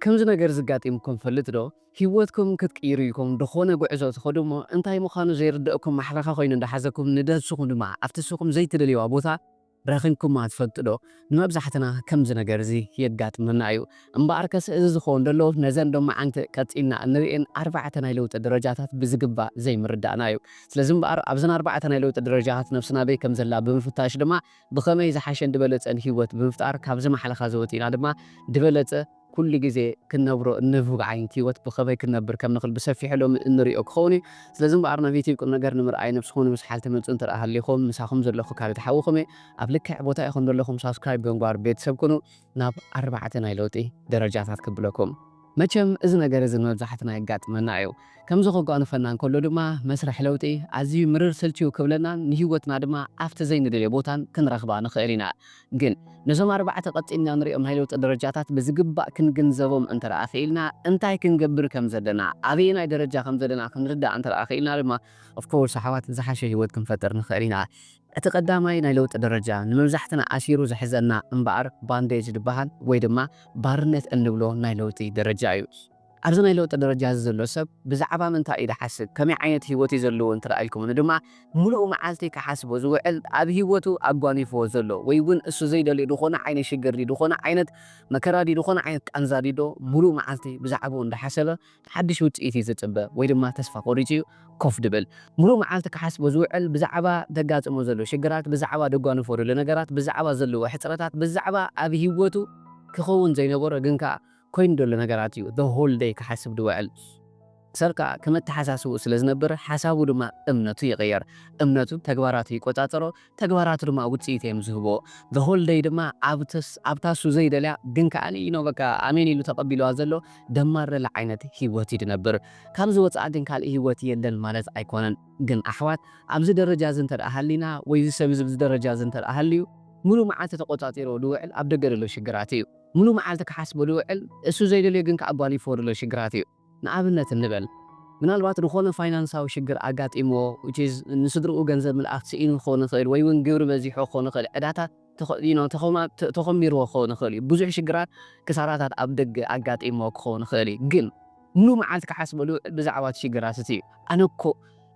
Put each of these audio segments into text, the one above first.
ከምዚ ነገር ዝጋጢምኩም ፈልጥ ዶ ሂወትኩም ክትቅይሩ ኢልኩም ድኮነ ጉዕዞ ትከዱ እሞ እንታይ ምካኑ ዘይርደእኩም ማሕለካ ኮይኑ እንዳሓዘኩም ንደብስኩም ድማ ኣብ ትስኩም ዘይትደልይዋ ቦታ ረኪብኩማ ትፈልጡ ዶ ንመብዛሕትና ከምዚ ነገር እዚ የጋጥመና እዩ እምበኣር ከስ እዚ ዝከውን ደሎ ነዘን ሎማዓንቲ ቀጺልና እንርእየን ኣርባዕተ ናይ ለውጢ ደረጃታት ብዝግባእ ዘይምርዳእና እዩ ስለዚ እምበኣር ኣብዘን ኣርባዕተ ናይ ለውጢ ደረጃታት ነብስና ኣበይ ከምዘላ ብምፍታሽ ድማ ብኸመይ ዝሓሸን ድበለጸን ሂወት ብምፍጣር ካብዚ ማሕለኻ እዚ ወጺእና ድማ ድበለጸ ኩሉ ግዜ ክንነብሮ እንብህጎ ዓይነት ሂወት ብኸመይ ክንነብር ከም ንኽል ብሰፊሑ ሎሚ እንርእዮ ክኸውን እዩ። ስለዚ እምበኣር ናብ ዩቲብ ቁምነገር ንምርኣይ ነብስኹም ንምስሓል ትመጹ እንተ ሃሊኹም ምሳኹም ዘለኹ ካልድ ሓውኹም እየ ኣብ ልክዕ ቦታ ኢኹም ደለኹም ሳብስክራይብ ብምግባር ቤተሰብ ኩኑ። ናብ ኣርባዕተ ናይ ለውጢ ደረጃታት ክብለኩም። መቸም እዚ ነገር እዚ ንመብዛሕትና የጋጥመና እዩ። ከምዚ ከጓንፈና እንከሎ ድማ መስርሕ ለውጢ ኣዝዩ ምርር ስልችው ክብለናን ንህይወትና ድማ ኣብቲ ዘይንደልዮ ቦታን ክንረኽባ ንኽእል ኢና። ግን ነዞም ኣርባዕተ ቀጺልና ንሪኦም ናይ ለውጢ ደረጃታት ብዝግባእ ክንግንዘቦም እንተደኣ ክኢልና እንታይ ክንገብር ከም ዘለና ኣበየናይ ደረጃ ከም ዘለና ክንርዳእ እንተደኣ ክኢልና ድማ of course ኣሕዋት ዝሓሸ ህይወት ክንፈጥር ንኽእል ኢና። እቲ ቀዳማይ ናይ ለውጢ ደረጃ ንመብዛሕትና ኣሲሩ ዝሕዘና እምበኣር ባንዴጅ ዝበሃል ወይ ድማ ባርነት እንብሎ ናይ ለውጢ ደረጃ እዩ። ኣብዚ ናይ ለውጢ ደረጃ እዚ ዘሎ ሰብ ብዛዕባ ምንታይ እዩ ዝሓስብ፣ ከመይ ዓይነት ህይወት እዩ ዘለዎ እንተ ኢልኩም ን ድማ ምሉእ መዓልቲ ክሓስቦ ዝውዕል ኣብ ህይወቱ ኣጓኒፍዎ ዘሎ ወይ እውን እሱ ዘይደልዮ ዝኾነ ዓይነት ሽግር ድዩ፣ ዝኾነ ዓይነት መከራ ድዩ፣ ዝኾነ ዓይነት ቃንዛ ድዩ ዶ ምሉእ መዓልቲ ብዛዕብኡ እንዳሓሰበ ሓድሽ ውጽኢት እዩ ዝጽበ ወይ ድማ ተስፋ ቆሪጹ እዩ ኮፍ ድብል። ምሉእ መዓልቲ ክሓስቦ ዝውዕል ብዛዕባ ደጋጥሞ ዘሎ ሽግራት፣ ብዛዕባ ደጓንፎ ደሎ ነገራት፣ ብዛዕባ ዘለዎ ሕጽረታት፣ ብዛዕባ ኣብ ሂወቱ ክኸውን ዘይነበሮ ግን ከኣ ኮይኑ ደሎ ነገራት እዩ the whole day ክሓስብ ድውዕል። ሰብ ከኣ ከም ኣተሓሳስብኡ ስለ ዝነብር ሓሳቡ ድማ እምነቱ ይቕየር። እምነቱ ተግባራቱ ይቆጻጸሮ፣ ተግባራቱ ድማ ውጽኢት እዮም ዝህቦ። The whole day ድማ ኣብታ እሱ ዘይደልያ ግን ከኣ you know በቃ ኣሜን ኢሉ ተቐቢሉዋ ዘሎ ደማር ደለ ዓይነት ህይወት እዩ ዝነብር። ካብዚ ወጻኢ ግን ካልእ ህይወት የለን ማለት ኣይኮነን። ግን ኣሕዋት ኣብዚ ደረጃ እዚ እንተደኣ ሃሊና ወይ እዚ ሰብ እዚ ኣብዚ ደረጃ እዚ እንተደኣ ሃልዩ ምሉእ መዓልቲ ተቖጻጺርዎ ዝውዕል ኣብ ደገ ዘሎ ሽግራት እዩ። ምሉእ መዓልቲ ክሓስቦ ዝውዕል እሱ ዘይደልዮ ግን ከኣ ኣጓኒፍዎ ዘሎ ሽግራት እዩ። ንኣብነት እንበል ምናልባት ዝኾነ ፋይናንሳዊ ሽግር ኣጋጢምዎ which is ንስድርኡ ገንዘብ ምልኣኽ ስኢኑ ክኸውን ይኽእል ወይ ውን ግብሪ በዚሑ ክኸውን ይኽእል ዕዳታት you know ተኾሚርዎ ክኸውን ይኽእል እዩ ብዙሕ ሽግራት ክሳራታት ኣብ ደገ ኣጋጢምዎ ክኸውን ይኽእል እዩ ግን ሙሉእ መዓልቲ ክሓስበሉ ብዛዕባ እቲ ሽግራት እቲ እዩ ኣነ እኮ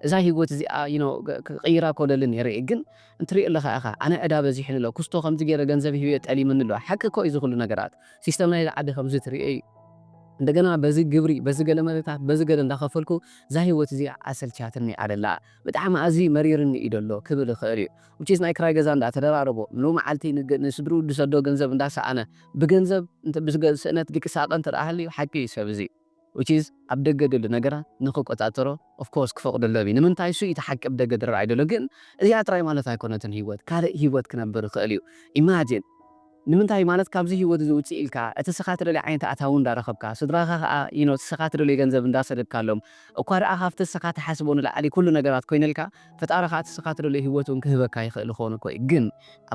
እዛ ሂወት እዚኣ you know ክቕይራ እኮ እደሊ ኔረ እየ ግን እንትሪኦ ኣለኻ ኢኻ ኣነ ዕዳ በዚሑኒ ኣሎ ኩስቶ ከምዚ ጌረ ገንዘብ ሂበዮ ጠሊሙኒ ኣሎ ሓቂ እኮ እዩ እዚ ኩሉ ነገራት ሲስተም ናይዚ ዓዲ ከምዚ ትሪኦ እዩ እንደገና በዚ ግብሪ በዚ ገለ መለታት በዚ ገለ እንዳከፈልኩ እዛ ሂወት እዚኣ ኣሰልችያትኒ ኣደላ ብጣዕሚ ኣዝዪ መሪርኒ እዩ ደሎ ክብል ይክእል እዩ which is ናይ ክራይ ገዛ እንዳ ተደራረቦ ን መዓልቲ ንስድርኡ ድሰዶ ገንዘብ እንዳሰኣነ ብገንዘብ ስእነት ድቂ ሳቀ እንተ ሃልዩ ሓቂ እዩ ሰብ እዚ which is ኣብ ደገ ደሎ ነገራት ንክቆጻጸሮ of course ክፈቅደሉ እብ ንምንታይ እሱ ኢቲ ሓቂ ብ ደገ ድራኣይ ደሎ ግን እዚኣ ጥራይ ማለት ኣይኮነትን ሂወት ካልእ ሂወት ክነብር ይክእል እዩ imagine ንምንታይ ማለት ካብዚ ሂወት እዚ ውጽእ ኢልካ እቲ እስኻ ትደልዮ ዓይነት ኣታዊ እንዳ ረኽብካ ስድራኻ ከኣ you know እቲ እስኻ ትደልዮ ገንዘብ እንዳ ሰደድካሎም እኳ ደኣ ካብቲ እስኻ ትሓስቦ ንላዕሊ ኩሉ ነገራት ኮይንልካ ፈጣሪ ከኣ ንስኻ ትደልዮ ሂወት ውን ክህበካ ይኽእል ይኸውን እኮ እዩ ግን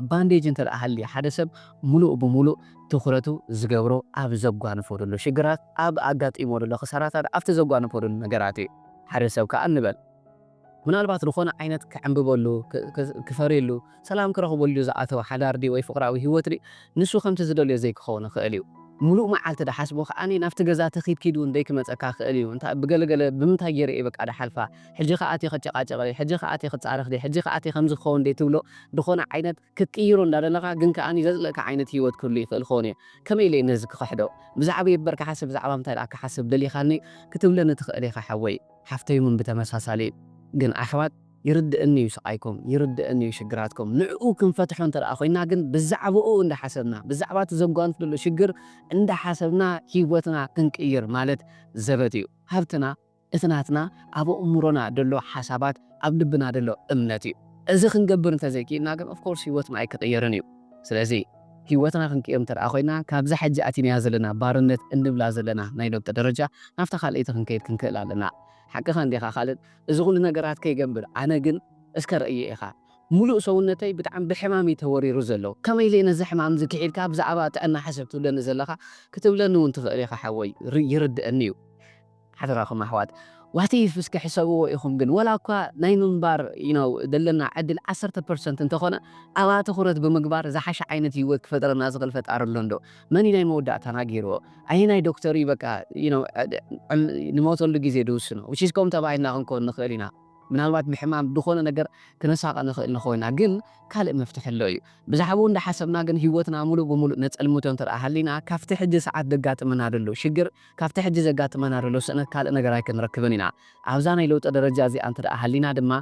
ኣብ ባንዴጅ እንተ ሃልዩ ሓደ ሰብ ሙሉእ ብሙሉእ ትኹረቱ ዝገብሮ ኣብ ዘጓንፎ ደሎ ሽግራት ኣብ ኣጋጢምዎ ደሎ ክሳራታት ኣብቲ ዘጓንፎ ደሎ ነገራት እዩ ሓደ ሰብ ከኣ ንበል ምናልባት ዝኾነ ዓይነት ክዕንብበሉ ክፈርየሉ ሰላም ክረኽበሉ ዝኣተወ ሓዳር ድዩ ወይ ፍቕራዊ ህይወት ድዩ ንሱ ከምቲ ዝደልዮ ዘይክኸውን ይኽእል እዩ። ምሉእ መዓልቲ ድሓስቦ ከኣ ናብቲ ገዛ ተኺድ ኪድ እውን ደይክመጸካ ይኽእል እዩ። እንታይ ብገለ ገለ ብምንታይ ገይረ እየ በቃ ድሓልፋ፣ ሕጂ ከኣ ኣትየ ክጨቓጨቕ ድየ፣ ሕጂ ከኣ ኣትየ ክጻረፍ ድየ፣ ሕጂ ከኣ ኣትየ ከምዚ ክኸውን ድየ ትብሎ ድኾነ ዓይነት ክትቅይሮ እንዳደለኻ ግን ከኣ ዘጽልእካ ዓይነት ህይወት ክህሉ ይኽእል ክኸውን እዩ። ከመይ ኢለ እየ ነዚ ክኽሕዶ? ብዛዕበይ እበር ክሓስብ ብዛዕባ ምንታይ ደኣ ክሓስብ ደሊኻኒ ክትብለኒ ትኽእል ኢኻ ሓወይ ሓፍተይውን ብተመሳሳሊ ግን ኣሕዋት ይርድእኒ እዩ ስቓይኩም፣ ይርድእኒ እዩ ሽግራትኩም፣ ንዕኡ ክንፈትሖ እንተ ደኣ ኮይንና ግን ብዛዕባኡ እንዳ ሓሰብና፣ ብዛዕባ እቲ ዘጓንፍ ዘሎ ሽግር እንዳ ሓሰብና ህይወትና ክንቅይር ማለት ዘበት እዩ። ሃብትና እቲ ናትና ኣብ ኣእምሮና ደሎ ሓሳባት፣ ኣብ ልብና ደሎ እምነት እዩ። እዚ ክንገብር እንተ ዘይክኢልና ግን ኦፍ ኮርስ ህይወትና ኣይክቕየርን እዩ። ስለዚ ህይወትና ክንቅይር እንተ ደኣ ኮይንና ካብዛ ሕጂ ኣቲናያ ዘለና ባርነት እንብላ ዘለና ናይ ለውጢ ደረጃ ናብታ ካልኣይቲ ክንከይድ ክንክእል ኣለና። ሓቅኻ እንዲኻ ካልድ። እዚ ኩሉ ነገራት ከይገብር ኣነ ግን እስከ ረእዮ ኢኻ ሙሉእ ሰውነተይ ብጣዕሚ ብሕማም እዩ ተወሪሩ ዘሎ ከመይ ኢለ ነዚ ሕማም እዚ ኪሒድካ ብዛዕባ ጥዕና ሕሰብ ትብለኒ ዘለኻ ክትብለኒ ውን ትኽእል ኢኻ ሓወይ ይርደኣኒ እዩ ሓደራኹም ኣሕዋት ዋት ኢፍ እስከ ሕሰብዎ ኢኹም ግን ወላ እኳ ናይ ምንባር you know ዘለና ዕድል ዓሰርተ ፐርሰንት እንተኾነ ኣብኣ ትኹረት ብምግባር ዝሓሸ ዓይነት ሂወት ክፈጥረልና ዝኽእል ፈጣሪ ኣሎ እንዶ መን እዩ ናይ መወዳእታና ጌርዎ ኣየናይ ዶክተር እዩ በቃ ንሞተሉ ግዜ ድውስኖ which is ከምኡ ተባሂልና ክንኮን ንክእል ኢና ምናልባት ብሕማም ብዝኮነ ነገር ክነሳቀ ንክእል ንኮና ግን ካልእ መፍትሒ ኣሎ እዩ ብዛዕብኡ እንዳሓሰብና ግን ሂወትና ሙሉእ ብሙሉእ ነጸልምቶ እንተ ሃሊና ካብቲ ሕጂ ሰዓት ዘጋጥመና ደሎ ሽግር ካብቲ ሕጂ ዘጋጥመና ደሎ ስእነት ካልእ ነገር ኣይክንረክብን ኢና ኣብዛ ናይ ለውጠ ደረጃ እዚኣ እንተ ሃሊና ድማ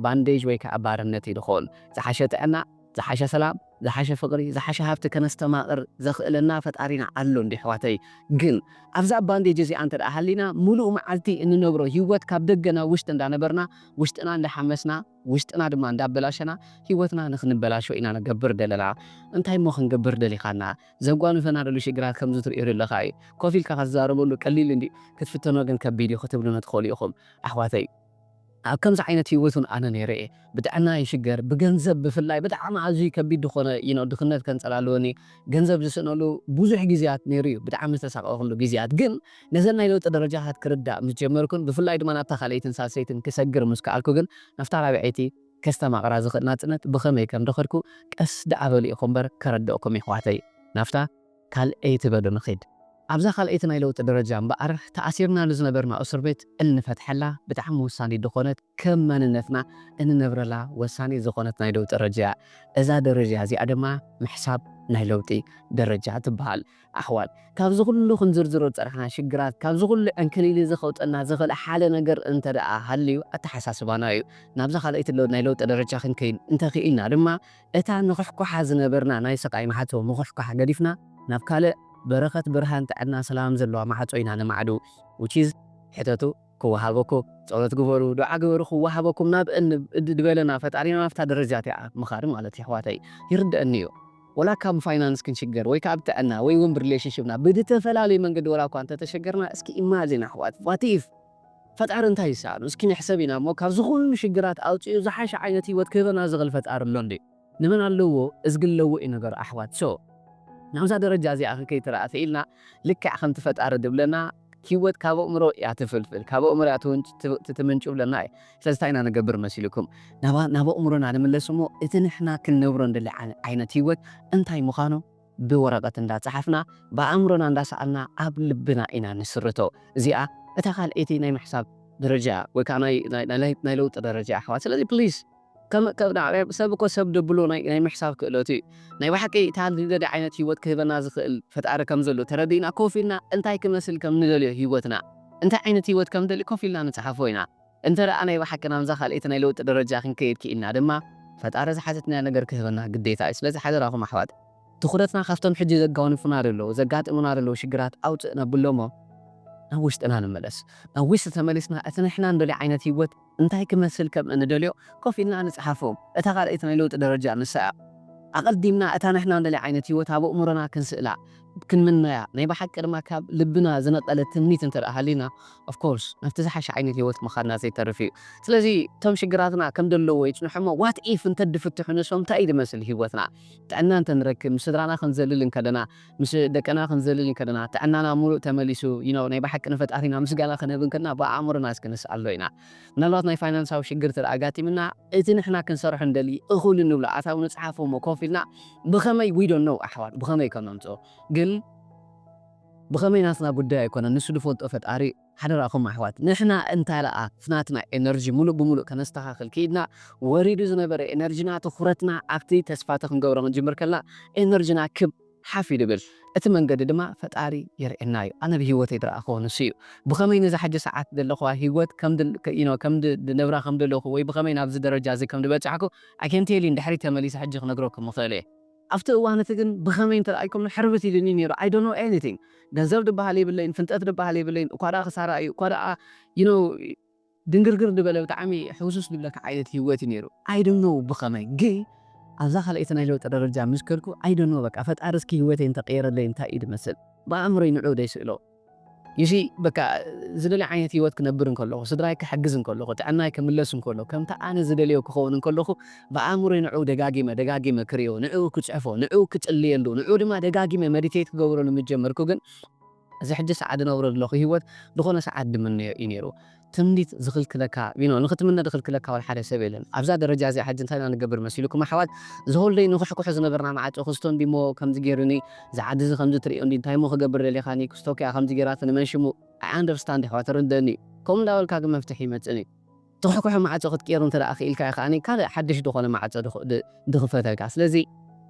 ባንዴጅ ወይ ከኣ ባርነት እዩ ድኮን ዝሓሸ ጥዕና ዝሓሸ ሰላም ዝሓሸ ፍቅሪ ዝሓሸ ሃብቲ ከነስተማቅር ዘኽእለና ፈጣሪና ኣሎ እንድዩ ኣሕዋተይ ግን ኣብዛ ባንዴጅ እዚኣ እንተ ሃሊና ሙሉእ መዓልቲ እንነብሮ ሂወት ካብ ደገ ናብ ውሽጢ እንዳ ነበርና ውሽጥና እንዳ ሓመስና ውሽጥና ድማ እንዳ ኣበላሸና ሂወትና ንኽንበላሾ ኢና ንገብር ደለና እንታይ እሞ ክንገብር ደሊኻና ዘጓንፈና ደሉ ሽግራት ከምዚ ትርእዮ ደለኻ እዩ ኮፍ ኢልካ ክትዛረበሉ ቀሊል እንድዩ ክትፍተኖ ግን ከቢድ እዩ ክትብሉኒ ትኽእሉ ኢኹም ኣሕዋተይ ኣብ ከምዚ ዓይነት ሂወት ውን ኣነ ነይረ እየ ብጥዕና ይሽገር ብገንዘብ ብፍላይ ብጣዕሚ ኣዝዩ ከቢድ ድኮነ you know ድክነት ከንጸላልወኒ ገንዘብ ዝስእነሉ ብዙሕ ግዝያት ነይሩ እዩ ብጣዕሚ ዝተሳቀኩሉ ግዝያት ግን ነዘን ናይ ለውጢ ደረጃታት ክርዳእ ምስ ጀመርኩን ብፍላይ ድማ ናብታ ካልኣይትን ሳልሰይትን ክሰግር ምስ ከኣልኩ ግን ናብታ ራብዐይቲ ከስተማቅራ ዝክእል ናጽነት ብከመይ ከም ደከድኩ ቀስ ደኣ በሉ ኢኩ እምበር ከረደእኩም የሕዋተይ ናብታ ካልኣይቲ በሉ ንኺድ ኣብዛ ካልኣይቲ ናይ ለውጢ ደረጃ እምበኣር ተኣሲርናሉ ዝነበርና እሱርቤት እንፈትሐላ ብጣዕሚ ወሳኒት ድኾነት ከም መንነትና እንነብረላ ወሳኒት ዝኾነት ናይ ለውጢ ረጃያ እዛ ደረጃ እዚኣ ድማ ምሕሳብ ናይ ለውጢ ደረጃ ትበሃል ኣሕዋት ካብዚ ኩሉ ክንዝርዝሮ ዝጸናሕና ሽግራት ካብዚ ኩሉ ዕንክሊሊ እዚ ከውጸና ዝኽእል ሓደ ነገር እንተደኣ ሃልዩ ኣተሓሳስባና እዩ ናብዛ ካልኣይቲ ናይ ለውጢ ደረጃ ክንከይድ እንተኺኢልና ድማ እታ ንኹሕኳሓ ዝነበርና ናይ ስቓይ ማዕጾ ምኹሕኳሕ ገዲፍና ናብ ካልእ በረኸት ብርሃን ጥዕና ሰላም ዘለዋ ማዕጾ ኢና ነማዕዱ which is ሕተቱ ክወሃበኩ ጸሎት ግበሩ ዱዓ ግበሩ ክወሃበኩም ናብ እድበለና ፈጣሪና ናብታ ደረጃ እቲኣ ምኻድ ማለት የሕዋተይ ይርደኣኒ እዩ ወላ ካብ ፋይናንስ ክንሽገር ወይ ከኣ ብጥዕና ወይ ውን ብሪሌሽንሽፕና ብድተፈላለዩ መንገዲ ወላኳ እንተተሸገርና እስኪ ኢማጂን ኣሕዋት what if ፈጣሪ እንታይ ይሰኣኖ እስኪ ንሕሰብ ኢና እሞ ካብዚ ኩሉ ሽግራት ኣውጺኡ ዝሓሸ ዓይነት ሂወት ክህበና ዝኽእል ፈጣሪ ኣሎ እንድዩ ንመን ኣለዎ እዝጊ ኣለዎ እዩ ነገሩ ኣሕዋት so ናብዛ ደረጃ እዚኣ ከ ከይትረኣ ኪኢልና ልክዕ ከምቲ ፈጣሪ ድብለና ሂወት ካብ ኣእምሮ እያ ትፍልፍል ካብ ኣእምሮ እያ ትምንጩ ይብለና እዩ ስለዚ እንታይ ኢና ንገብር መሲልኩም ናብ ኣእምሮና ንምለስ እሞ እቲ ንሕና ክንነብሮ ንደሊ ዓይነት ሂወት እንታይ ምኻኑ ብወረቐት እንዳ ጸሓፍና ብኣእምሮና እንዳ ሰኣልና ኣብ ልብና ኢና ንስርቶ። እዚኣ እታ ካልኣይቲ ናይ ምሕሳብ ደረጃ እያ ወይ ከኣ ናይ ናይ ናይ ለውጢ ደረጃ እያ ኣሕዋት። ስለዚ please ከም ከም ሰብ እኮ ሰብ ደብሎ ናይ ናይ ምሕሳብ ክእለቱ እዩ። ናይ ብሓቂ እታ ንደልያ ዓይነት ህይወት ክህበና ዝኽእል ፈጣሪ ከም ዘሎ ተረዲእና ኮፍ ኢልና እንታይ ክመስል ከም ንደልዮ ህይወትና እንታይ ዓይነት ህይወት ከም ንደሊ ኮፍ ኢልና ንጽሓፎ ኢና። እንተደኣ ናይ ብሓቂ ናብዛ ካልኣይቲ ናይ ለውጢ ደረጃ ክንከይድ ክኢልና ድማ ፈጣሪ ዝሓተትናዮ ነገር ክህበና ግዴታ እዩ። ስለዚ ሓደራኹም ኣሕዋት ትኹረትና ካብቶም ሕጂ ዘጋውንፉና ዘለዉ፣ ዘጋጥሙና ዘለዉ ሽግራት ኣውጽእ ነብሎ'ሞ ናብ ውሽጥና ንመለስ። ናብ ውሽጢ ተመሊስና እቲ ንሕና እንደልዮ ዓይነት ህይወት እንታይ ክመስል ከም እንደልዮ ኮፍ ኢልና ንጽሓፎ። እታ ካልኣይቲ ናይ ለውጢ ደረጃ ንሳ እያ። ኣቐዲምና እታ ንሕና እንደልያ ዓይነት ህይወት ኣብ ኣእምሮና ክንስእላ፣ ክንምነያ ናይ ብሓቂ ድማ ካብ ልብና ዝነቀለ ትምኒት እንተድኣ ሃልዩና of course ናብቲ ዝሓሸ ዓይነት ሂወት ምኻድና ዘይተርፍ እዩ ስለዚ እቶም ሽግራትና ከም ደለዎ ይጽንሑ እሞ what if እንተድፍትሑ ንሶም እንታይ እዩ ድመስል ሂወትና ጥዕና እንተንረክብ ምስ ስድራና ክንዘልል እንከለና ምስ ደቅና ክንዘልል እንከለና ጥዕናና ሙሉእ ተመሊሱ you know ናይ ብሓቂ ንፈጣሪና ምስጋና ክነህብ እንከለና ብኣእምሮና እስኪ ንስኣሎ ኢና ምናልባት ናይ ፋይናንሳዊ ሽግር እንተ ኣጋጢምና፣ እቲ ንሕና ክንሰርሖ ንደሊ እኹል እንብሎ ኣታዊ ንጽሓፎ እሞ ኮፍ ኢልና ብኸመይ we don't know ኣሕዋት ብኸመይ ከም ነምጽኦ ግን ብኸመይ ናትና ጉዳይ ኣይኮነን ንሱ ዝፈልጦ ፈጣሪ እዩ። ሓደራኹም ኣሕዋት ንሕና እንተ ልኣኽ ናትና ኤነርጂ ምሉእ ብምሉእ ከነስተኻኽል ክኢድና ወሪዱ ዝነበረ ኤነርጂና ትኹረትና ኣብቲ ተስፋ እቲ ክንገብሮ ክንጅምር ከለና ኤነርጂና ክብ ሓፍ ኢሉ ይብል እቲ መንገዲ ድማ ፈጣሪ የርእየና እዩ ኣነ ብሂወተይ ድረኣክዎ ንሱ እዩ ብከመይ ነዛ ሕጂ ሰዓት ደለክዋ ሂወት ከም you know ከም ድነብራ ከም ደለኩ ወይ ብከመይ ናብዚ ደረጃ እዚ ከም ድበጻሕኩ i can tell you ንድሕሪት ተመሊሰ ሕጂ ክነግረኩም እክእል እየ ኣብቲ እዋን እቲ ግን ብከመይ እንተረኣይኩምኒ ሕርብት ኢሉኒ እዩ ነይሩ i don't know anything ገንዘብ ድበሃል የብለይን ፍልጠት ድበሃል የብለይን እኳ ደኣ ክሳራ እዩ እኳ ደኣ you know ድንግርግር ድበለ ብጣዕሚ ሕውስውስ ድብለካ ዓይነት ሂወት እዩ ነይሩ I don't know ብኸመይ ግን ኣብዛ ካልኣይቲ ናይ ለውጢ ደረጃ ምስ ከድኩ I don't know በቃ ፈጣሪ እስኪ ሂወተይ እንተቀየረለይ እንታይ እዩ ድመስል ብኣእምሮይ ንዕኡ ደይስእሎ You see በቃ ዝደልዮ ዓይነት ሂወት ክነብር እንከለኹ ስድራይ ክሕግዝ እንከለኹ ጥዕናይ ክምለስ እንከሎ ከምቲ ኣነ ዝደልዮ ክኸውን እንከለኹ ብኣእምሮይ ንዕኡ ደጋጊመ ደጋጊመ ክሪኦ ንዕኡ ክጽሕፎ ንዕኡ ክጽልየሉ ንዕኡ ድማ ደጋጊመ መዲቴት ክገብረሉ ምስ ጀመርኩ ግን እዚ ሕጂ ሰዓት ዝነብሮ ዘለኹ ህይወት ዝኾነ ሰዓት ዝምነዮ እዩ ነይሩ። ትምኒት ዝኽልክለካ you know ንኽትምነ ዝኽልክለካ ዋላ ሓደ ሰብ የለን። ኣብዛ ደረጃ እዚኣ ሕጂ እንታይ ኢና ንገብር መሲሉኩም ኣሕዋት? ዝሆልደይ ንኹሕኩሑ ዝነበርና መዓጹ ክስቶ እንዲሞ ከምዚ ጌሩኒ፣ እዚ ዓዲ እዚ ከምዚ ትርእዮ እንዲ እንታይሞ ክገብር ደሊኻኒ፣ ክስቶ ኪኣ ከምዚ ጌራትኒ መን ሽሙ I understand የሕዋት እርደኣኒ እዩ። ከምኡ እንዳበልካ ግን መፍትሒ ይመጽእን እዩ። ትኹሕኩሒ ማዕጾ ክትቅየሩ እንተ ደኣ ክኢልካዮ ከኣ ካልእ ሓድሽ ዝኾነ ማዕጾ ድኽፈተልካ። ስለዚ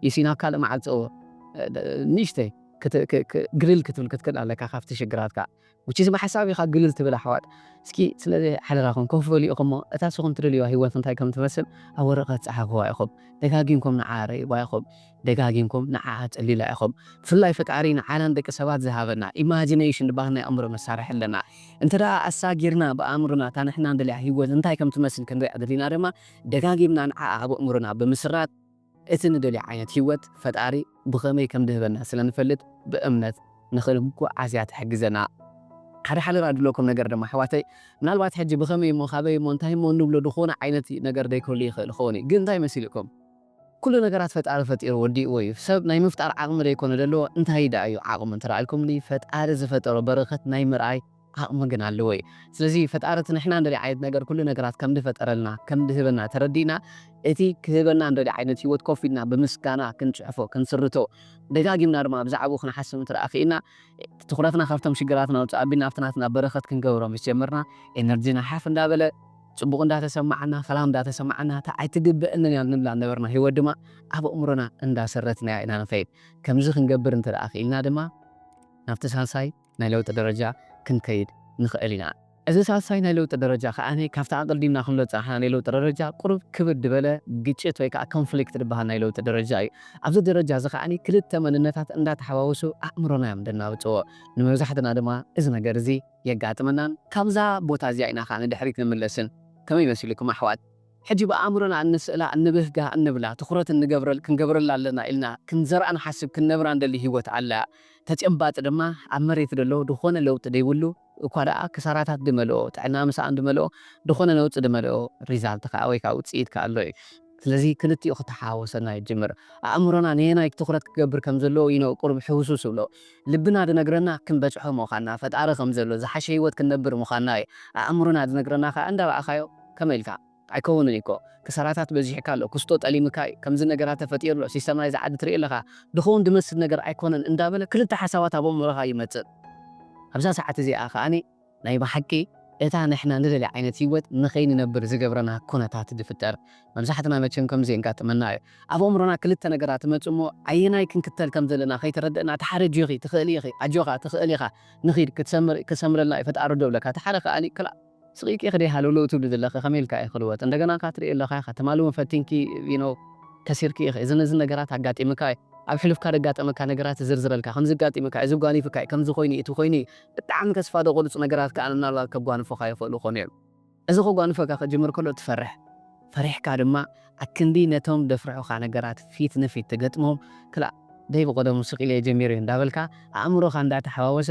ዩሲ ናብ ካልእ ማዕጾ ንእሽተይ ግልል ክትብል ክትክእል ኣለካ ካብቲ ሽግራትካ። Which is ብሓሳብ ኢኻ ግልል ትብል ኣሕዋት። እስኪ ስለዚ ሓደራኹም ኮፍ በሉ ኢኹም እሞ እታ ንስኹም ትደልይዋ ሂወት እንታይ ከም ትመስል ኣብ ወረቐት ጸሓፍዋ ኢኹም። ደጋጊምኩም ንዓኣ ረእይዋ ኢኹም። ደጋጊምኩም ንዓኣ ተሊላ ኢኹም ብፍላይ ፈጣሪ ንዓና ንደቂ ሰባት ዝሃበና ኢማጂነሽን ዝባሃል ናይ ኣእምሮ መሳርሒ ኣለና እንተዳኣ ኣሳጊርና ብኣእምሮና እታ ንሕና ንደልያ ሂወት እንታይ ከም ትመስል ክንሪኣ ደሊና ድማ ደጋጊምና ንዓኣ ኣብ ኣእምሮና ብምስራጽ እቲ ንደልዮ ዓይነት ሂወት ፈጣሪ ብኸመይ ከም ድህበና ስለ ንፈልጥ ብእምነት ንኽንጉዓዝ እያ ትሕግዘና። ሓደ ሓደራ ድብለኩም ነገር ድማ ኣሕዋተይ ምናልባት ሕጂ ብኸመይ እሞ ካበይ እሞ እንታይ እሞ እንብሎ ድኾነ ዓይነት ነገር ደይክህሉ ይኽእል ይኸውን እዩ ግን እንታይ መሲልኩም ኩሉ ነገራት ፈጣሪ ፈጢሩ ወዲእዎ እዩ ሰብ ናይ ምፍጣር ዓቅሚ ደይኮነ ደለዎ እንታይ ደኣ እዩ ዓቅሙ እንተረኣልኩምኒ ፈጣሪ ዝፈጠሮ በረከት ናይ ምርኣይ ዓቅሚ ግን ኣለዎ እዩ ስለዚ ፈጣሪ እቲ ንሕና ንደልዮ ዓይነት ነገር ኩሉ ነገራት ከምድፈጠረልና ከምድህበና ተረዲእና እቲ ክህበና ንደልዮ ዓይነት ሂወት ኮፍ ኢልና ብምስጋና ክንጽሕፎ ክንስርቶ ደጋጊምና ድማ ብዛዕብኡ ክንሓስብ እንተ ክኢልና ትኩረትና ካብቶም ሽግራትና ውጽእ ኣቢልና ኣብቲ ናትና በረከት ክንገብሮ ምስ ጀመርና ኤነርጅና ሓፍ እንዳበለ ጽቡቕ እንዳ ተሰማዓና ፈላም እንዳ ተሰማዓና እታ ኣይትግበእንን እያ እንብላ ዝነበርና ህይወት ድማ ኣብ ኣእምሮና እንዳ ሰረትናያ ኢና ንኸይድ። ከምዚ ክንገብር እንተ ደኣ ክኢልና ድማ ናብቲ ሳልሳይ ናይ ለውጢ ደረጃ ክንከይድ ንኸእል ኢና። እዚ ሳልሳይ ናይ ለውጢ ደረጃ ከኣ ካብቲ ኣቐዲምና ክንብሎ ዝጸናሕና ናይ ለውጢ ደረጃ ቁሩብ ክብድ ዝበለ ግጭት ወይ ከኣ ኮንፍሊክት ዝበሃል ናይ ለውጢ ደረጃ እዩ። ኣብዚ ደረጃ እዚ ከኣ ክልተ መንነታት እንዳ ተሓዋወሱ ኣእምሮና እዮም ዘናብጽዎ። ንመብዛሕትና ድማ እዚ ነገር እዚ። የጋጥመናን ካብዛ ቦታ እዚኣ ኢና ከኣ ንድሕሪት ንምለስን ከመይ መሲሉኩም ኣሕዋት ሕጂ ብኣእምሮና እንስእላ እንብህጋ እንብላ ትኹረት እንገብረል ክንገብረላ ኣለና ኢልና ክንዘርኣ ንሓስብ ክንነብራ እንደሊ ሂወት ኣላ ተጨባጢ ድማ ኣብ መሬት ደሎ ድኾነ ለውጢ ደይብሉ እኳ ደኣ ክሳራታት ድመልኦ ጥዕና ምሳኣን ድመልኦ ድኾነ ነውጺ ድመልኦ ሪዛልት ከኣ ወይ ከኣ ውጽኢት ከኣ ኣሎ እዩ ስለዚ ክልቲኡ ክተሓዋወሰና ይጅምር። ኣእምሮና ነየናይ ትኹረት ክገብር ከም ዘለዎ እዩ ን ቁሩብ ሕውስውስ ዝብሎ። ልብና ዝነግረና ክንበጽሖ ምዃንና፣ ፈጣሪ ከም ዘሎ፣ ዝሓሸ ህይወት ክንነብር ምዃንና እዩ። ኣእምሮና ዝነግረና ከኣ እንዳረኣኻዮ ከመይ ኢልካ? ኣይከውንን እዩ እኮ። ክሳራታት በዚሕካ ኣሎ፣ ክስቶ ጠሊምካ እዩ፣ ከምዚ ነገራት ተፈጢሩ ኣሎ፣ ሲስተም ናይዚ ዓዲ ትርኢ ኣለኻ፣ ዝኸውን ዝመስል ነገር ኣይኮነን እንዳበለ ክልተ ሓሳባት ኣብ ኣእምሮኻ ይመጽእ። ኣብዛ ሰዓት እዚኣ ከኣ ናይ ብሓቂ እታ ንሕና ንደልያ ዓይነት ሂወት ንኸይንነብር ዝገብረና ኩነታት ድፍጠር መብዛሕትና መቸም ከምዚ የንጋጥመና እዩ ኣብ ኣእምሮና ክልተ ነገራት ይመጹ እሞ ኣየናይ ክንክተል ከም ዘለና ከይተረደእና እቲ ሓደ ጆኺ ትኽእሊ ኢኺ ኣጆኻ ትኽእል ኢኻ ንኺድ ክትሰምር ክሰምረልና እዩ ፈጣሪ ዶብለካ እቲ ሓደ ከኣ ክላእ ስቂቅኪ ድየ ሃለውለው ትብሊ ዘለኺ ከመይ ኢልካ እዩ ክልወጥ እንደገና ከኣ ትርእዮ ኣለኻ ኢኻ ትማሊ ውን ፈቲንኪ you know ከሲርኪ ኢኺ እዝን እዝን ነገራት ኣጋጢምካ እዩ ኣብ ሕሉፍካ ደጋጠመካ ነገራት ዝዝርዝረልካ ከምዚ ኣጋጢምካ እዩ እዚ ኣጓኒፍካ እዩ ከምዚ ኮይኑ እዩ እቲ ኮይኑ እዩ ብጣዕሚ ተስፋ ዘቑርጽ ነገራት ከኣ ምናልባት ከጓንፉኻ ይኽእሉ ክኾኑ እዮም። እዚ ከጓንፈካ ክጅምር ከሎ ትፈርሕ። ፈሪሕካ ድማ ኣክንዲ ነቶም ዘፍርሑኻ ነገራት ፊት ንፊት ትገጥሞም፣ ክላእ ደይ ብቐደሙ ስቕ ኢለዮ ጀሚረዮ እንዳበልካ ኣእምሮኻ እንዳተሓዋወሰ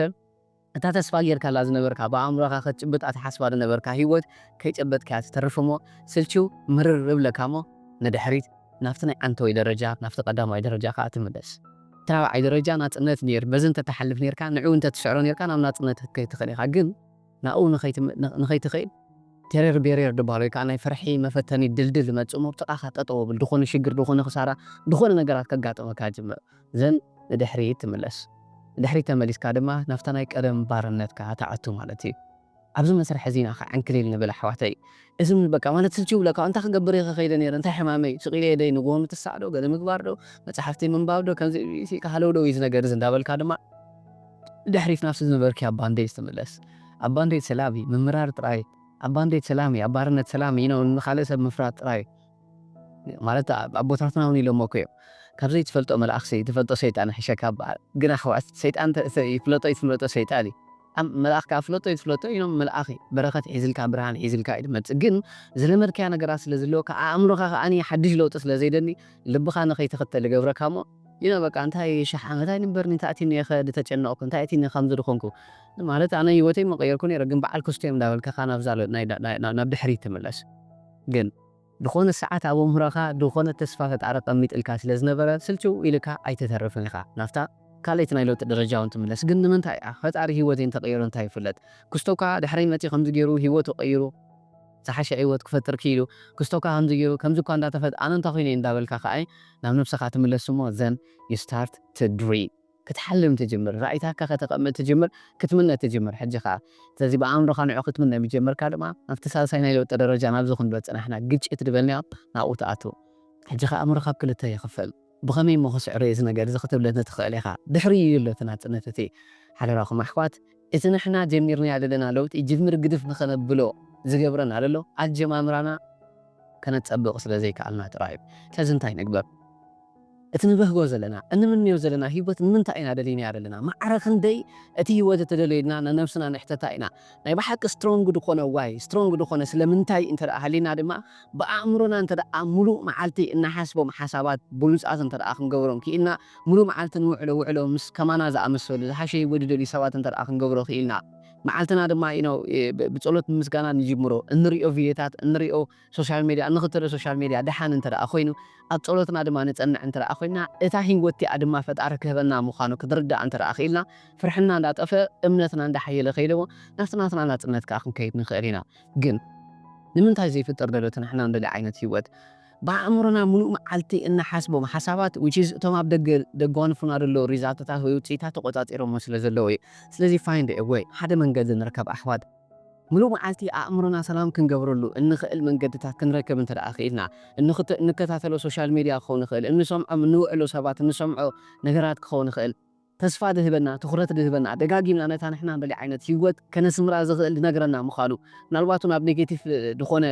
እታ ተስፋ ጌርካላ ዝነበርካ ብኣእምሮኻ ክትጭብጣ ትሓስባ ዝነበርካ ሂወት ከይጨበጥካያ ትተርፍ'ሞ ስልችው ምርር እብለካ'ሞ ንድሕሪት ናብቲ ናይ ዓንተወይ ደረጃ ናብቲ ቀዳማይ ደረጃ ከኣ ትምለስ። እቲ ራብዓይ ደረጃ ናጽነት ነይሩ። በዚ እንተ ትሓልፍ ነይርካ፣ ንዕኡ እንተ ትስዕሮ ነይርካ ናብ ናጽነት ክትከይድ ትኽእል ኢኻ። ግን ናብኡ ንኸይትኸይድ ቴረር ቤሬር ድበሃል ወይ ከኣ ናይ ፍርሒ መፈተኒ ድልድል ይመጽእ እሞ ኣብ ጥቓኻ ጠጠው የብል። ዝኾነ ሽግር፣ ዝኾነ ክሳራ፣ ዝኾነ ነገራት ከጋጥመካ ይጅምር። ዘን ንድሕሪት ትምለስ። ንድሕሪት ተመሊስካ ድማ ናብታ ናይ ቀደም ባርነትካ ትኣቱ ማለት እዩ። ኣብዚ መስርሕ እዚ ኢና ከ ዕንክሊል ንብል ኣሕዋተይ። እዚ ውን በቃ ማለት ስልችው ይብለካ እንታይ ክገብር እየ ከ ከይደ ነይረ እንታይ ሕማመይ ስቅ ኢለ የደይ ንግሆ ምትሳእ ዶ ገለ ምግባር ዶ መጻሕፍቲ ምንባብ ዶ ከምዚ ኢሲ ኢልካ ሃለውለው እዩ እዚ ነገር እዚ እንዳበልካ ድማ ንድሕሪት ናብቲ ዝነበርክያ ባንዴጅ ትምለስ ኣብ ባንዴጅ ሰላም እዩ ምምራር ጥራይ ኣብ ባንዴጅ ሰላም እዩ ኣብ ባርነት ሰላም እዩ ንካልእ ሰብ ምፍራድ ጥራይ እዩ ማለት ኣቦታትና ውን ኢሎሞ እኮ እዮም ካብ ዘይትፈልጦ መልኣኽሲ ትፈልጦ ሰይጣን ይሕሸካ ይበሃል ግን ኣሕዋት ሰይጣን ይፍለጦ ኣይትፍለጦ ሰይጣን እዩ መልኣኽ ከኣ ፍለጦ ኣይትፍለጦ ኢሎም መልኣኽ እዩ በረኸት ሒዝልካ ብርሃን ሒዝልካ እዩ ዝመጽእ ግን ዝለመድካዮ ነገራት ስለ ዝህልወካ ኣእምሮኻ ከኣ ሓድሽ ለውጢ ስለ ዘይደሊ ልብኻ ንኸይትኽተል ይገብረካ እሞ ኢነ በቃ እንታይ ሽሕ ዓመት ኣይንበርን'ዩ እንታይ ኣትዩኒ'የ'ኸ ዝተጨነቕኩ እንታይ ኣትዩኒ ከምዚ ዝኾንኩ ማለት ኣነ ሂወተይ ምቐየርኩ ኔረ ግን በዓል ክስቶ እዮም እንዳበልካ'ኸ ናብዛ ናይ ናብ ድሕሪት ትምለስ ግን። ዝኾነ ሰዓት ኣብ ኣእምሮኻ ዝኾነ ተስፋ ፈጣሪ ቀሚጥልካ ስለ ዝነበረ ስልችው ኢልካ ኣይትተርፍን ኢኻ ናብታ ካልኣይቲ ናይ ለውጢ ደረጃ ውን ትምለስ ግን ንምንታይ እያ ፈጣሪ ሂወተይ እንተቀይሮ እንታይ ይፍለጥ ክስቶ ካኣ ድሕረይ መጽዩ ከምዚ ጌሩ ሂወቱ ቀይሩ ዝሓሸ ዒወት ክፈጥር ኪኢሉ ክስቶ ካኣ ከምዚ ጌሩ ከምዚ እኳ እንዳተፈጥ ኣነ እንታይ ኮይነ ኢየ እንዳበልካ ካኣ ናብ ነብስኻ ትምለስ እሞ then you start to dream። ክትሓልም ትጅምር፣ ራኢታትካ ከተቐምጥ ትጅምር፣ ክትምነ ትጅምር ሕጂ ከኣ። ስለዚ ብኣእምሮኻ ንዑ ክትምነ ምስ ጀመርካ ድማ ናብቲ ሳልሳይ ናይ ለውጢ ደረጃ ናብዚ ክንዶ ጸናሕና ግጭት ድበልናዮ ናብኡ ትኣቱ። ሕጂ ከኣ ኣእምሮኻ ኣብ ክልተ ይኽፈል። ብኸመይ እሞ ክስዕሮ'የ እዚ ነገር እዚ ክትብለኒ ትኽእል ኢኻ። ድሕሪኡ እዩ ኣሎ እቲ ናጽነት እቲ። ሓደራኹም ኣሕዋት እቲ ንሕና ጀሚርናዮ ዘለና ለውጢ ጅምር ግድፍ ንኸነብሎ ዝገብረና ዘሎ ኣጀማምራና ከነጸብቕ ስለ ዘይከኣልና ጥራይ'ዩ። ስለዚ እንታይ ንግበር? እቲ ንበህጎ ዘለና፣ እንምንዮ ዘለና ህይወት ንምንታይ ኢና ደሊናዮ ዘለና? ማዕረ ክንደይ እቲ ህይወት እተደልዮ ኢልና ንነብስና ንሕተታ ኢና። ናይ ብሓቂ ስትሮንግ ድኾነ ዋይ? ስትሮንግ ድኾነ ስለምንታይ እንተ ሃሊና ድማ ብኣእምሮና እንተ ምሉእ መዓልቲ እንሓስቦም ሓሳባት ብሉጻት እንተ ክንገብሮም ክኢልና፣ ምሉእ መዓልቲ ንውዕሎ ውዕሎ ምስ ከማና ዝኣመሰሉ ዝሓሸ ህይወት ዝደልዩ ሰባት እንተ ክንገብሮ ክኢልና፣ መዓልትና ድማ ብጸሎት ብምስጋና ንጅምሮ፣ እንርእዮ ቪድዮታት፣ እንርእዮ። ሶሻል ሜድያ እንኽተሎ ሶሻል ሜድያ ደሓን እንተ ደኣ ኮይኑ ኣብ ጸሎትና ድማ ንጸንዕ እንተ ደኣ ኮይና እታ ሂወት እቲኣ ድማ ፈጣሪ ክህበና ምዃኑ ክንርዳእ እንተ ደኣ ክኢልና ፍርሕና እንዳ ጠፍእ እምነትና እንዳ ሓየለ ከይዱ ናብቲ ናትና ናጽነት ከኣ ክንከይድ ንኽእል ኢና ግን ንምንታይ ዘይፍጠር ደሎ እቲ ንሕና እንደልዮ ዓይነት ሂወት ብኣእምሮና ምሉእ መዓልቲ እንሓስቦም ሓሳባት which is እቶም ኣብ ደገ ደጓንፉና ደለዉ ሪዛልትታት ወይ ውጽኢታት ተቆጻጺሮሞ ስለ ዘለዉ እዩ ስለዚ find a way ሓደ መንገዲ ንርከብ ኣሕዋት። ምሉእ መዓልቲ ኣእምሮና ሰላም ክንገብረሉ እንኽእል መንገድታት ክንረክብ እንተድኣ ክኢልና፣ እንክት እንከታተሎ ሶሻል ሜድያ ክኸውን ይኽእል፣ እንሰምዖም እንውዕሎ ሰባት፣ እንሰምዖ ነገራት ክኸውን ይኽእል፣ ተስፋ ድህበና፣ ትኹረት ድህበና፣ ደጋጊምና ነታ ንሕና ንደልያ ዓይነት ህይወት ከነስምራ ዝኽእል ድነግረና ምዃኑ፣ ምናልባት እውን ኣብ ኔጌቲቭ ድኾነ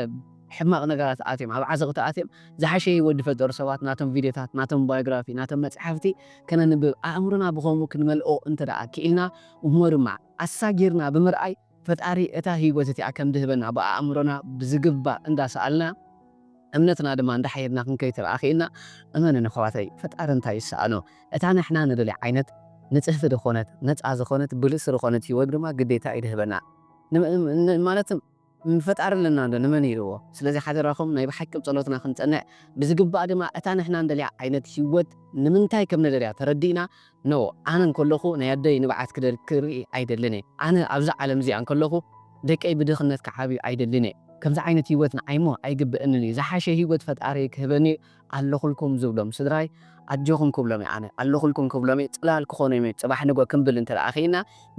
ሕማቕ ነገራት ኣትዮም፣ ኣብ ዓዘቕቲ ኣትዮም ዝሓሸ ህይወት ድፈጠሩ ሰባት ናቶም ቪድዮታት፣ ናቶም ባዮግራፊ፣ ናቶም መጽሓፍቲ ከነንብብ፣ ኣእምሮና ብኸምኡ ክንመልኦ እንተድኣ ክኢልና እሞ ድማ፣ ኣሳጊርና ብምርኣይ ፈጣሪ እታ ህይወት እቲኣ ከም ድህበና ብኣእምሮና ብዝግባእ እንዳ ሰኣልና እምነትና ድማ እንዳ ሓየልና ክንከይድ ተበኣኺኢልና እመኑኒ ኣሕዋተይ ፈጣሪ እንታይ ይሰኣኖ እታ ንሕና ንደልያ ዓይነት ንጽህቲ ድኾነት ነጻ ዝኾነት ብልጽቲ ድኾነት ህይወት ድማ ግዴታ እዩ ድህበና ማለት ፈጣሪ ኣለና ዶ ንመን ኢልዎ ስለዚ ሓደራኹም ናይ ብሓቂ ብ ጸሎትና ክንጸንዕ ብዝግባእ ድማ እታ ንሕና እንደልያ ዓይነት ሂወት ንምንታይ ከም ንደልያ ተረዲእና no ኣነ እንከለኹ ናይ ኣደይ ንብዓት ክደል ክርኢ ኣይደልን እየ ኣነ ኣብዛ ዓለም እዚኣ እንከለኹ ደቀይ ብድኽነት ክዓብዩ ኣይደልን እየ ከምዚ ዓይነት ሂወት ንዓይሞ ኣይግበእንን እዩ ዝሓሸ ሂወት ፈጣሪ ክህበኒ እዩ ኣለኹልኩም ዝብሎም ስድራይ ኣጆኹም ክብሎም እየ ኣነ ኣለኹልኩም ክብሎም እየ ጽላል ክኾኖም እየ ጽባሕ ንግሆ ክምብል እንተ ኪኢልና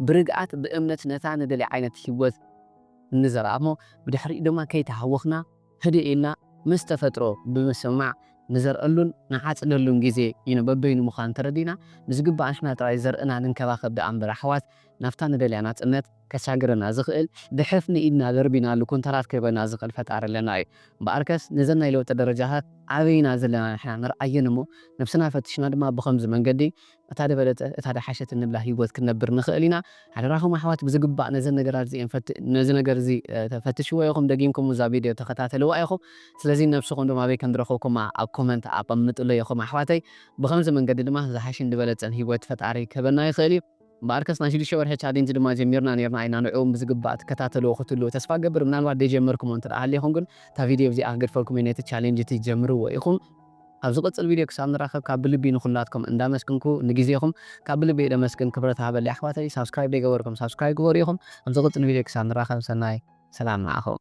ብርግኣት ብእምነት ነታ ንደልያ ዓይነት ሂወት ንዘርኣ እሞ ብድሕሪኡ ድማ ከይተሃወኽና ህድእ ኢልና ምስ ተፈጥሮ ብምስምማዕ ንዘርኣሉን ንዓጽደሉን ግዜ እዩ ንበበይኑ ምዃኑ ተረዲእና ብዝግባእ ንሕና ጥራይ ዘርእና ንንከባኸብ ድኣ እምበር ኣሕዋት ናብታ ንደልያ ናጽነት ከሳግረና ዝኽእል ብሕፍኒ ኢድና ደርቢናሉ ኩንታላት ክህበና ዝኽእል ፈጣሪ ኣለና እዩ እምበኣርከስ ነዘን ናይ ለውጢ ደረጃታት ኣበይ ኢና ዘለና ንሕና ንርኣየን እሞ ነብስና ፈቲሽና ድማ ብኸምዚ መንገዲ እታ ደበለጸ እታ ደሓሸት እንብላ ሂወት ክንነብር ንኽእል ኢና ሓደራኹም ኣሕዋት ብዝግባእ ነዘን ነገራት እዚኤን ፈት ነዚ ነገር እዚ ፈትሽዎ ኢኹም ደጊምኩም እዛ ቪድዮ ተኸታተልዋ ኢኹም ስለዚ ንነብስኹም ድማ ኣበይ ከምዝረኽብኩማ ኣብ ኮመንት ኣቐምጥለይ ኢኹም ኣሕዋተይ ብኸምዚ መንገዲ ድማ ዝሓሸን ድበለጸን ሂወት ፈጣሪ ክህበና ይኽእል እዩ እምበኣርከስ ናይ ሽዱሽተ ወርሒ ቻሌንጅ ድማ ጀሚርና ኔርና ኢና ንዕኡም ብዝግባእ ትከታተልዎ ክትህልዉ ተስፋ እገብር ምናልባት ደይጀመርኩሞ እንተደኣ ሃሊኹም ግን እታ ቪድዮ እዚኣ ክገድፈልኩም እየ ነቲ ቻሌንጅ እቲ ጀምርዎ ኢኹም። ኣብ ዝቅጽል ቪድዮ ክሳብ ንራከብ ካብ ብልቢ ንኩላትኩም እንዳ ኣመስግንኩ ንግዜኩም ካብ ብልቢ እየ ደመስግን ክብረት ሃበለይ ኣሕዋተይ ሳብስክራይብ ደይገበርኩም ሳብስክራይብ ግበሩ ኢኩም ኣብ ዝቅጽል ቪድዮ ክሳብ ንራከብ ሰናይ ሰላም ንዓኩም።